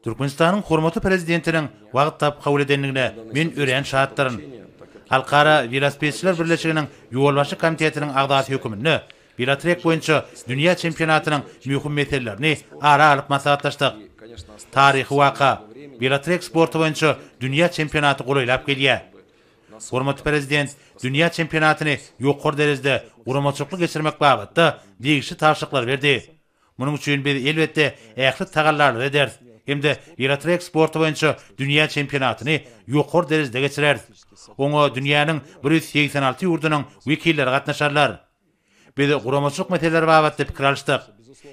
Türkmenistanyň hormatly Prezidentiniň wagt tapyp kabul edendigine men örän şatdyryn. Halkara welosipedçiler birleşiginiň ýolbaşçy komitetiniň agzasy höküminde welotrek boýunça dünýä çempionatynyň möhüm meselelerini ara alyp maslahatlaşdyk. Taryhy waka, welotrek sporty boýunça dünýä çempionaty golaýlap gelýär. Hormatly Prezident dünýä çempionatyny ýokary derejede guramaçylykly geçirmek babatda degişli tabşyryklary berdi. Munuň üçin biz, elbetde, ähli tagallalary ederis hem-de welotrek sporty boýunça dünýä çempionatyny ýokary derejede geçireris. Oňa dünýäniň bir ýüz segsen alty ýurdunyň wekilleri gatnaşarlar. Biz guramaçylyk meseleleri babatda pikir alyşdyk.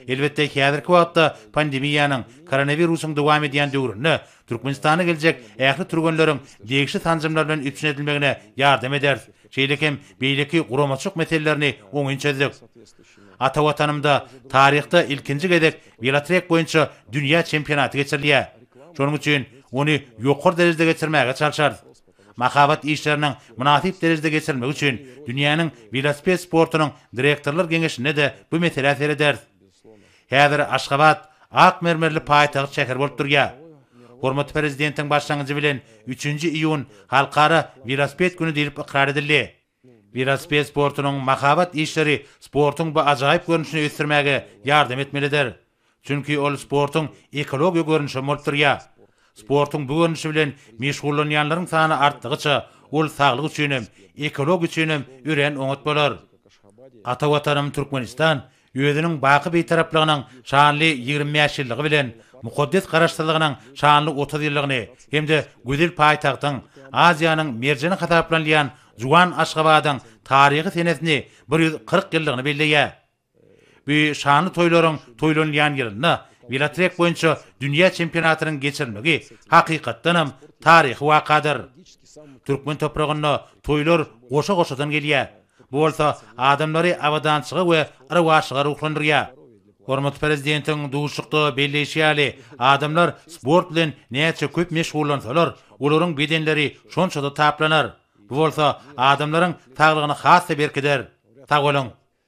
Elbetde, häzirki wagtda pandemiýanyň, koronawirusyň dowam edýän döwründe Türkmenistana geljek ähli türgenleriň degişli sanjymlar bilen üpjün edilmegine ýardam ederis, şeýle hem beýleki guramaçylyk meselelerini oňyn çözdük. Ata Watanymda taryhda ilkinji gezek welotrek boýunça dünýä çempionaty geçirilýär. Şonuň üçin ony ýokary derejede geçirmäge çalşarys. Mahabat işleriniň mynasyp derejede geçirilmegi üçin dünýäniň welosiped sportunyň direktorlar geňeşinde-de bu meselä serederis. Häzir Aşgabat ak mermerli paýtagt şäher bolup durýar. Hormatly Prezidentiň başlangyjy bilen üçünji iýun Halkara welosiped güni diýlip ykrar edildi. Welosiped sportunyň mahabat işleri sportuň bu ajaýyp görnüşini ösdürmäge ýardam etmelidir. Çünki ol sportuň ekologiýa görnüşi hem bolup durýar. Sportuň bu görnüşi bilen meşgullanýanlaryň sany artdygyça, ol saglyk üçin hem, ekologiýa üçin hem örän oňat bolar. Ata Watanym Türkmenistan Özüniň baky Bitaraplygynyň şanly ýigrimi bäş ýyllygy bilen mukaddes Garaşsyzlygynyň şanly otuz ýyllygyny hem-de gözel paýtagtyň, Aziýanyň merjeni hasaplanylýan juwan Aşgabadyň taryhy senesini bir ýüz kyrk ýyllygyny belleýär. Bu şanly toýlaryň toýlanylýan ýylynda welotrek boýunça dünýä çempionatynyň geçirilmegi hakykatdanam taryhy wakadyr. Türkmen topragynda toýlar goşa-goşadan gelýär. Bu bolsa adamlary abadançylyga we rowaçlyga ruhlandyrýar. Hormatly Prezidentiň duşuşykda belleýşi ýaly, adamlar sport bilen näçe köp meşgullansalar, olaryň bedenleri şonça-da taplanar. Bu bolsa adamlaryň saglygyny has-da berkider. Sag boluň!